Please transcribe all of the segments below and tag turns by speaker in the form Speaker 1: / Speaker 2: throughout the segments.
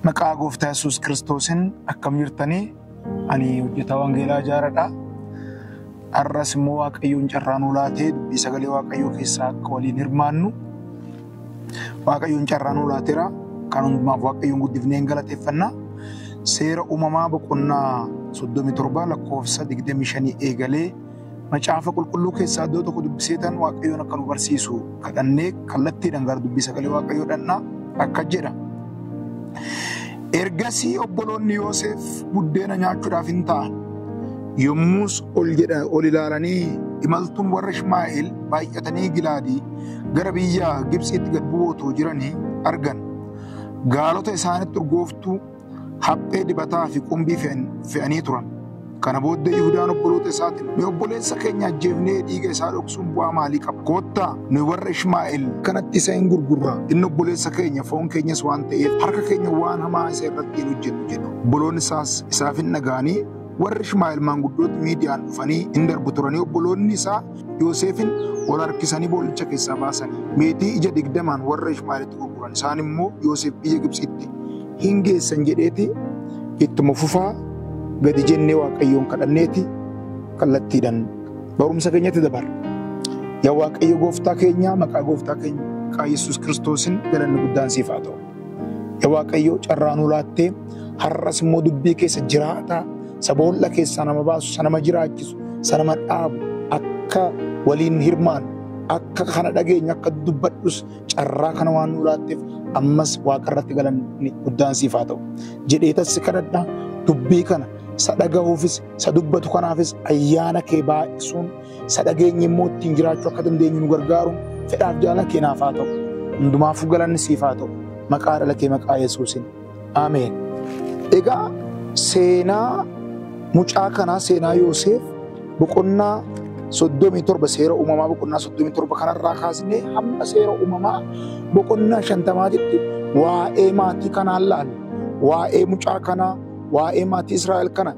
Speaker 1: Maqaa gooftaa Yesuus Kiristoosiin akkam jirtanii? Ani hojjetaa Wangeelaa Ijaaradha. Har'as immoo Waaqayyoon carraa nuu laatee dubbii sagalee Waaqayyoo keessaa akka waliin hirmaannu Waaqayyoon carraa nuu laateera. Kan hundumaaf Waaqayyoon guddifnee hin galateeffanna. Seera uumamaa boqonnaa 37 lakkoofsa 25 eegalee Macaafa qulqulluu keessaa iddoo tokko dubbiseetan Waaqayyoon akka nu barsiisu kadhannee kallattiidhaan gara dubbii sagalee Waaqayyoo dhannaa akka jedha. Ergasii obboloonni Yooseef buddeena nyaachuudhaaf hin ta'an. Yommus ol jedha ol ilaalanii imaltuun warra Ishmaa'eel baay'atanii Gilaadii gara biyya Gibtsiitti gad bu'ootoo jiranii argan. Gaalota isaanitti urgooftuu haphee dibataa fi qumbii fe'an- fe'anii turan. Kana booddee Yihudaan obboloota isaatiin, nu obboleessa keenya ajjeefnee dhiiga isaa dhoksuun bu'aa maalii qaba? Koottaa nu warra Ishmaa'el kanatti isa hin gurgurra. Inni obboleessa keenya, foon keenyas waan ta'eef harka keenya waan hamaa isa irratti hin hojjennu jedhu. Obboloonni isaas isaaf hin dhaga'anii warri Ishmaa'el maanguddooti Miidiyaan dhufanii hin darbu turanii obboloonni isaa Yooseefin ol harkisanii bool'icha keessaa baasanii meetii ija digdamaan warra Ishmaa'elitti gurguran. Isaan immoo Yooseef biyya Gibxiitti hin geessan jedheeti ittuma fufaa gadi jennee waaqayyoon kadhanneeti kallattiidhaan barumsa keenyatti dabarra. Yaa waaqayyo gooftaa keenyaa maqaa gooftaa keenya maqaa Yesuus Kiristoosiin galanni guddaan siif haa ta'u. Yaa waaqayyo carraa nuu laattee har'as immoo dubbii keessa jiraataa saboolla keessaa nama baasu isa nama jiraachisu isa nama dhaabu akka waliin hirmaan akka kana dhageenyu akka dubbadhus carraa kana waan nuu laatteef ammas waaqa irratti galanni guddaan siif haa ta'u. Jedheetan si kadhadha dubbii kana isa dhagahuufis isa dubbatu kanaafis ayyaana kee baay'isuun isa dhageenye immoo ittiin jiraachuu akka dandeenyu nu gargaaruun fedhaaf jaalala keenaaf haa ta'u. Hundumaafuu galanni siif haa ta'u. Maqaa dhala kee maqaa Yesuusin. Ameen. Egaa seenaa mucaa kanaa seenaa Yooseef boqonnaa soddomii torba seera uumamaa boqonnaa soddomii torba kanarraa kaasnee hamma seera uumamaa boqonnaa shantamaatitti waa'ee maatii kanaa laalla. Waa'ee mucaa kanaa, waa'ee maatii Israa'el kana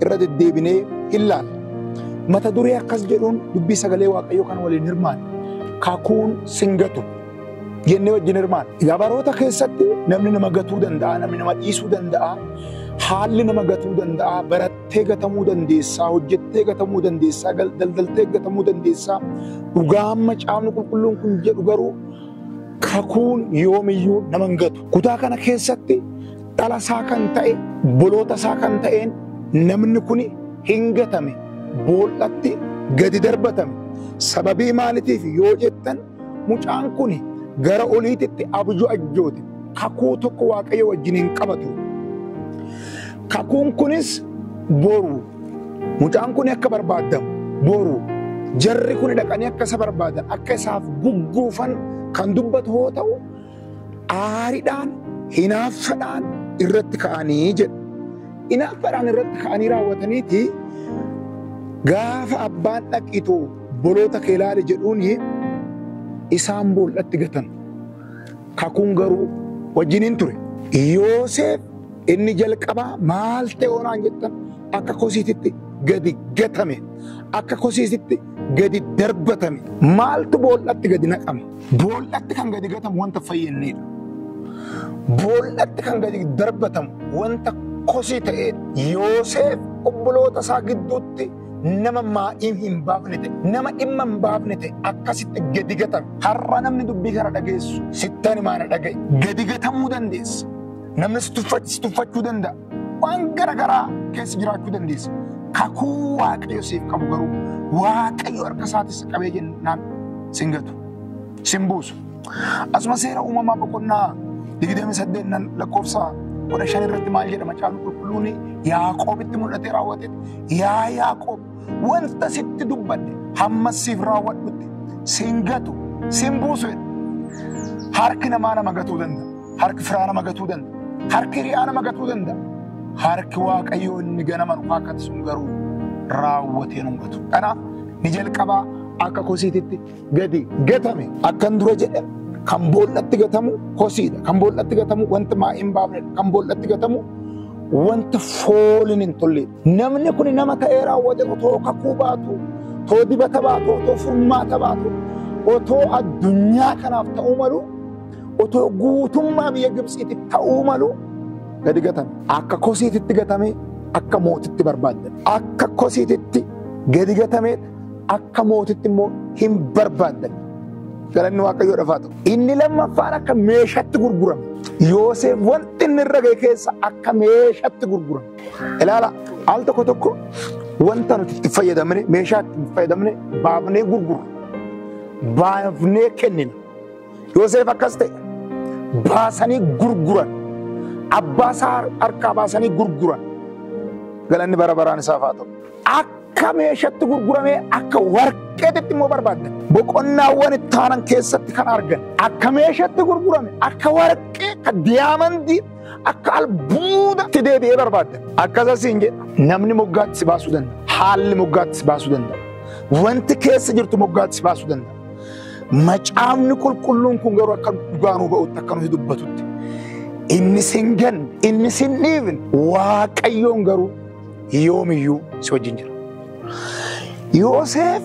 Speaker 1: irra deddeebinee hin laalla. Mata duree akkas jedhuun dubbii sagalee Waaqayyoo kan waliin hirmaanne kakuun sin gatu jennee wajjin hirmaanne. Egaa baroota keessatti namni nama gatuu danda'a, namni nama dhiisuu danda'a, haalli nama gatuu danda'a, barattee gatamuu dandeessaa, hojjettee gatamuu dandeessaa, gal- daldaltee gatamuu dandeessaa. Dhugaa amma caafni qulqulluun kun jedhu garuu kakuun yoomiyyuu nama hin gatu. Kutaa kana keessatti dhala isaa kan ta'e boloota isaa kan ta'een namni kun hin gatame bool'atti gadi darbatame sababii maaliitiif yoo jettan mucaan kun gara oliititti abjuu ajjoote kakuu tokko waaqayyo wajjin hin qabatu kakuun kunis boru mucaan kun akka barbaadamu boru jarri kun dhaqanii akka isa barbaadan akka isaaf gugguufan kan dubbatu yoo ta'u aaridhaan, hinaaffadhaan irratti ka'anii jedha. Hinaaffadhaan irratti ka'anii raawwataniiti gaafa abbaan dhaqiitu boloota kee ilaali jedhuun isaan bool'atti gatan. Kakuun garuu wajjiniin ture. Yooseef inni jalqabaa maal ta'e hoonaan jettan akka kosiititti gadi gatame, akka kosiititti gadi darbatame. Maaltu bool'atti gadi naqama? Boollatti kan gadi gatamu wanta fayyinniidha. Boollatti kan gadi darbatamu wanta kosii ta'eedha. Yooseef obboloota isaa gidduutti nama maa'ii hin baafne ta'e, nama dhimma hin baafne ta'e akkasitti gadi gatame. Har'a namni dubbii kana dhageessu sittani maana dhaga'i. Gadi gatamuu dandeessa. Namni si tuffa- si tuffachuu danda'a. Waan gara garaa keessa jiraachuu dandeessa. Kakuu Waaqayyo siif qabu garuu Waaqayyo harka isaatis qabee jennaan sin gatu. Sin buusu. Asuma seera uumamaa boqonnaa 28 nan lakkoofsa 15 irratti maal jedha macaan qulqulluun Yaaqoobitti mul'atee raawwate. Yaa Yaaqoob wanta sitti dubbadhe hammas siif raawwadhutti sin gatu sin buusu jedha. Harki namaa nama gatuu danda'a. Harki firaa nama gatuu danda'a. Harki hiriyaa nama gatuu danda'a. Harki Waaqayyoo inni ganama nu kaakkate sun garuu raawwatee nu hin gatu. Kanaaf ni jalqabaa akka kosiititti gadi gatame akkan dura jedhe kan boollatti gatamu kosiidha. Kan boollatti gatamu wanti maa hin baafnedha. Kan boollatti gatamu wanti fooliin hin tolleedha. Namni kun nama ta'ee raawwate otoo kakuu baatu, otoo dibata baatu, otoo furmaata baatu, otoo addunyaa kanaaf ta'uu malu Otoo guutummaa biyya Gibtsiitti ta'uu malu gadi gatame. Akka kosiititti gatamee akka mootitti barbaadame. Akka kosiititti gadi gatamee akka mootitti immoo hin barbaadame. Galanni Waaqayyoo dhafaa ta'u. Inni lammaffaan akka meeshatti gurgurame. Yooseef wanti inni irra ga'e keessa akka meeshatti gurgurame. Ilaala al tokko tokko wanta nuti itti fayyadamne meeshaa itti fayyadamne baafnee gurgurra. Baafnee kennina. Yoseef akkas ta'e. Baasanii gurguran. Abbaa isaa harkaa baasanii gurguran. Galanni bara baraan isaaf haa ta'u. Akka meeshatti gurguramee akka warqeetitti immoo barbaaddan. Boqonnaawwan itti aanan keessatti kan argan. Akka meeshatti gurgurame, akka warqee, akka diyaamandii, akka albuudatti deebi'ee barbaaddan. Akkasas hin jedha. Namni moggaatti si baasuu danda'a. Haalli moggaatti si baasuu danda'a. Wanti keessa jirtu moggaatti si baasuu danda'a. Macaafni qulqulluun kun garuu akka dhugaa nuu ba'utti akka nuti dubbatutti inni sin ganne inni sin dhiibne waaqayyoon garuu yoomiyyuu si wajjin jira. Yooseef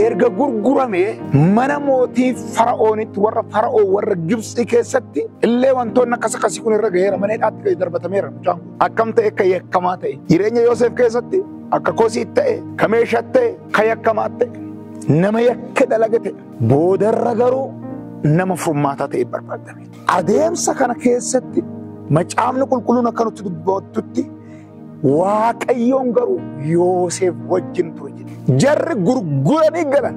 Speaker 1: erga gurguramee mana mootii fara'oonitti warra fara'oo warra Gibsii keessatti illee wantoonni akkas akkasii kun irra gaheera mana hidhaatti gadi darbatameera mucaan kun. Akkam ta'e akka yakkamaa ta'e jireenya Yooseef keessatti akka kosiit ta'e ka meeshaat ta'e Ka yakkamaa ta'e, nama yakka dalage ta'e, boodarra garuu nama furmaataa ta'e barbaadame. Adeemsa kana keessatti macaafni qulqulluun akka nutti dubbattutti Waaqayyoon garuu Yooseef wajjin ture jedhe. Jarri gurguranii galan,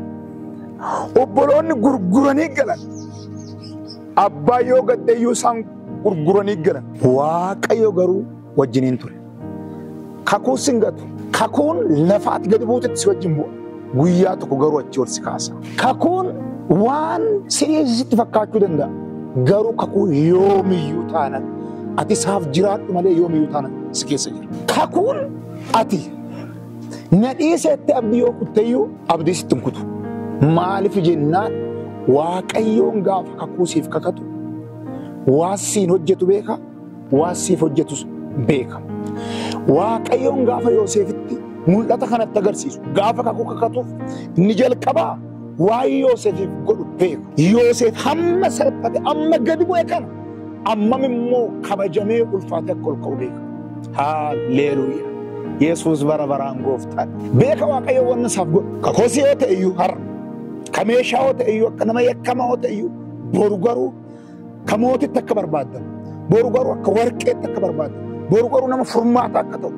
Speaker 1: obboloonni gurguranii galan, abbaa yoo gaddeeyyuu isaan gurguranii galan. Waaqayyo garuu wajjiniin ture. Kakuu sin gatu. Kakuun lafa ati gadi buutetti si wajjin bu'a. Guyyaa tokko garuu achi ol si kaasa. Kakuun waan si'eessi sitti fakkaachuu danda'a. Garuu kakuun yoomiyyuu taanan ati isaaf jiraadhu malee yoomiyyuu taanan si keessa jira. Kakuun ati nadhii seetti abdii yoo kutteyyuu abdii sitti hin kutu. Maaliif jennaan Waaqayyoon gaafa kakuu siif kakatu waan siin hojjetu beeka. waan siif hojjetus beeka. Waaqayyoon gaafa Yooseefitti mul'ata kanatti agarsiisu gaafa kakuu kakatuuf inni jalqabaa waan Yooseefiif godhu beeka. Yooseef hamma salphate amma gadi bu'e kana ammam immoo kabajamee ulfaatee akka ol ka'u beeka. Haalleeluuyaa! Yesuus bara baraan gooftaan beeka Waaqayyo wanna isaaf godhu. Kakoosi yoo ta'e iyyuu har'a, ka meeshaa yoo ta'e iyyuu akka nama yakkamaa yoo ta'e iyyuu boru garuu Ka mootitti akka barbaaddan, boru garuu akka warqeetti akka barbaaddan, boru garuu nama furmaata akka ta'u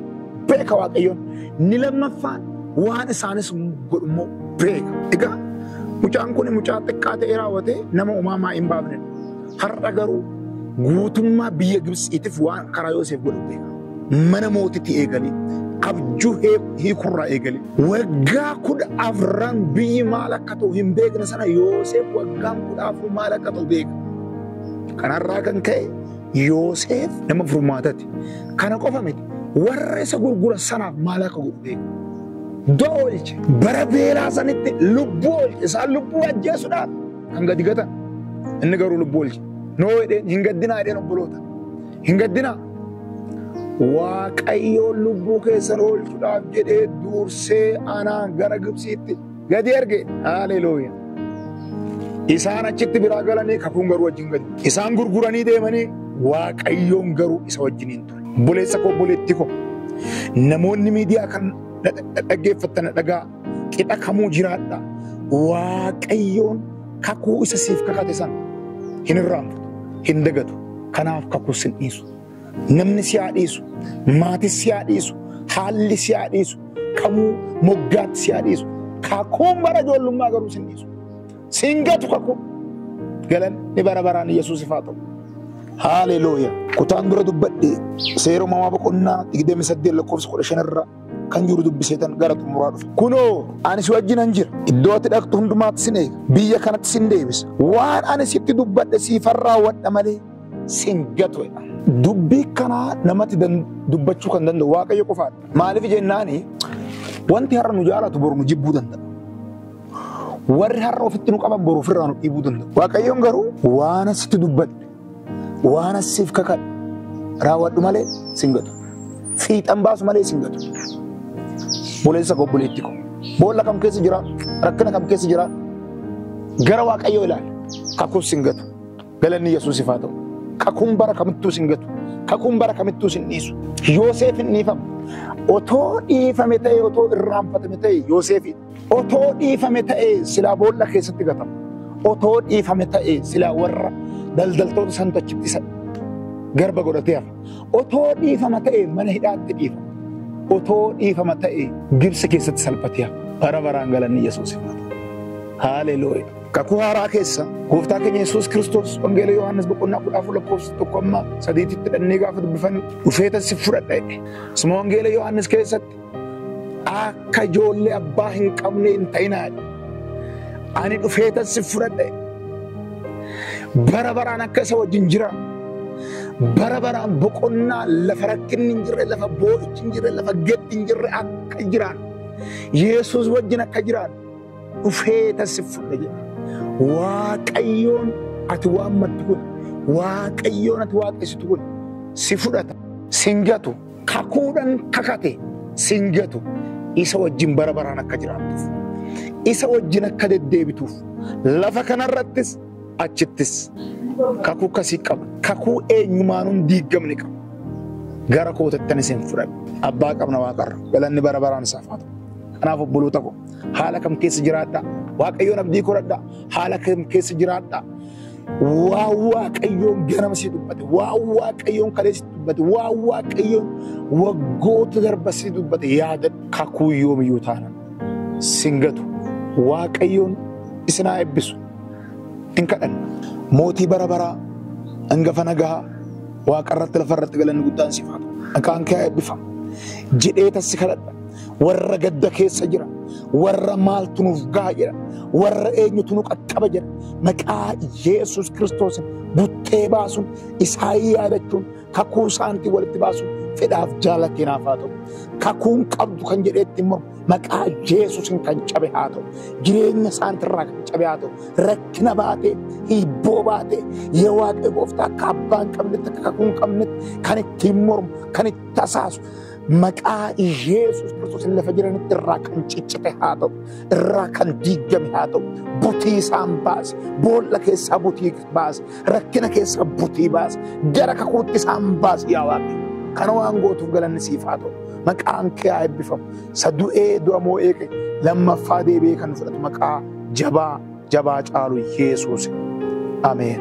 Speaker 1: beeka Waaqayyoon. Inni lammaffaan waan isaanis godhu immoo beeka. Egaa mucaan kun mucaa xiqqaa ta'ee raawwatee nama uumamaa hin baafne. Har'a garuu guutummaa biyya Gibsiitiif waan karaa Yooseef godhu beeka. mana mootitii eegalee abjuu hiikurraa eegalee waggaa kudha afran biyyi maal akka ta'u hin beekne sana Yooseef waggaan kudha afur maal akka ta'u beeka. Kanarraa kan ka'e Yooseef nama furmaatati. Kana qofa miti warra isa gurguran sanaaf maal akka godhu beeka. Du'a oolche bara beelaa sanitti lubbuu oolche isaan lubbuu ajjeesuudhaaf kan gadi gatan inni garuu lubbuu oolche. Noo jedheen hin gaddinaa jedheen obboloota. Hin gaddinaa. Waaqayyoon lubbuu keessan oolchuudhaaf jedhee dursee anaan gara Gibsiitti gadi erge. Haaleluuya. Isaan achitti biraa galanii kakuun garuu wajjin gadi. Isaan gurguranii deemanii Waaqayyoon garuu isa wajjin hin ture. Obboleessa koo obboleettii koo namoonni miidiyaa kan dhaggeeffattan dhagaa. Qixa kamuu jiraadha. Waaqayyoon kakuu isa siif kakate sana hin irraanfatu, hin dagatu. Kanaaf kakuu sin dhiisu. Namni si haa dhiisu, maatis si haa dhiisu, haalli si haa dhiisu, kamuu moggaatti si haa dhiisu. Kakuun bara ijoollummaa garuu sin dhiisu. Sin gatu kakuu. Galanni bara baraan Yesuusif haa ta'u. Haaleluuya. Kutaan dura dubbadhe seera uumamaa boqonnaa 28 lakkoofsa 15 irraa kan jiru dubbiseetan gara xumuraa dhufe. Kunoo ani si wajjinan jira. Iddoo ati dhaqxu hundumaatti sin eega. Biyya kanatti sin deebisa. Waan ani sitti dubbadhe siifan raawwadha malee sin gatu jedha. Dubbii kanaa namatti dan- dubbachuu kan danda'u Waaqayyo qofaadha. Maaliif jennaani wanti har'a nu jaalatu boru nu jibbuu danda'a. Warri har'a ofitti nu qaban boru ofirraa nu dhiibuu danda'u. Waaqayyoon garuu waan ani sitti dubbadhe Waan asiif kakadhu raawwadhu malee sin gatu. Fiixan baasu malee sin gatu. Boleessa koo buleetti koo. Boolla kam keessa jira? Rakkina kam keessa jira? Gara Waaqayyoo ilaali. Kakuun sin gatu. Galanni Yesuusiif haa ta'u. Kakuun bara kamittuu sin gatu. Kakuun bara kamittuu sin dhiisu. Yooseef hin dhiifamu. Otoo dhiifame ta'e otoo irraanfatame ta'e Yooseefi. Otoo dhiifame ta'ee silaa boolla keessatti gatama. Otoo dhiifame ta'ee silaa warra daldaltoota santu achitti isa garba godhatee hafa. Otoo dhiifama ta'ee mana hidhaatti dhiifama. Otoo dhiifama ta'ee Gibsi keessatti salphatee hafa. Bara baraan galanni Yesuus hin hafu. Haaleluuya. Kakuu haaraa keessa gooftaa keenya Yesuus Kiristoos Wangeela Yohaannis boqonnaa kudha afur lakkoofsa tokko amma sadiititti dhannee gaafa dubbifannu dhufeetan si fudhadha jedhe. Suma Wangeela Yohaannis keessatti Akka ijoollee abbaa hin qabne hin ta'inaa. Ani dhufeetan si fudhadhe. Bara baraan akka isa wajjin jira. Bara baraan boqonnaa lafa rakkinni hin jirre, lafa boo'ichi hin jirre, lafa gaddi hin jirre akka jiraan. Yesuus wajjin akka jiraan dhufeetan si fudhadhe jedha. Waaqayyoon ati waammattu kun, Waaqayyoon ati waaqessitu kun si fudhata, si hin gatu. kakuudhan kakate sin gatu isa wajjin bara baraan akka jiraattuuf isa wajjin akka deddeebituuf lafa kanarrattis achittis kakuu kasii qaba kakuu eenyumaanuun diiggamne qaba gara kootattan isin fudhadhe abbaa qabna waaqarra galanni bara baraan isaaf haa ta'u kanaaf obboloota koo haala kam keessa jiraadhaa waaqayyoon abdii koradhaa haala kam keessa jiraadhaa Waa waaqayyoon ganama si dubbate, waa waaqayyoon kalee si dubbate, waa waaqayyoon waggoota darba si dubbate yaadadhu. Kakuu yoomiyyuu taana sin gatu waaqayyoon isin haa eebbisu. In kadhanna mootii bara baraa hangafa nagahaa waaqarratti lafarratti galanni guddaan siif haa ta'u. Maqaan kee haa eebbifamu jedhee tassi kadhadha. warra gadda keessa jira, warra maaltu nuuf gaha jedha, warra eenyutu nu qaqqaba jedha. Maqaa Yesus Kiristoosin buttee baasuun isaan yaadachuun kakuu isaaniitiin walitti baasuun fedhaaf jaala keenaaf haa ta'u. Kakuun qabdu kan jedheetti immoo maqaa Yesusin kan cabe haa ta'u. Jireenya isaaniitirraa kan cabe haa ta'u. Rakkina baatee, hiibboo baatee, yaa Waaqayyo gooftaa akka abbaa hin qabnetti, akka kakuu hin qabnetti kan ittiin mormu, kan itti tasaasu, maqaa Yesus Kiristoos lafa jiran irraa kan ciccite haa ta'u, irraa kan diigame haa ta'u, butii isaan baase, boolla keessaa butii baase, rakkina keessaa butii baase, gara kakuutti isaan baase yaa Waaqayyo. Kana waan gootuuf galanni siif haa ta'u. Maqaan kee haa eebbifamu. Isa du'ee du'a moo'ee kee lammaffaa deebi'ee kan fudhatu maqaa jabaa jabaa caalu Yesuus. Ameen.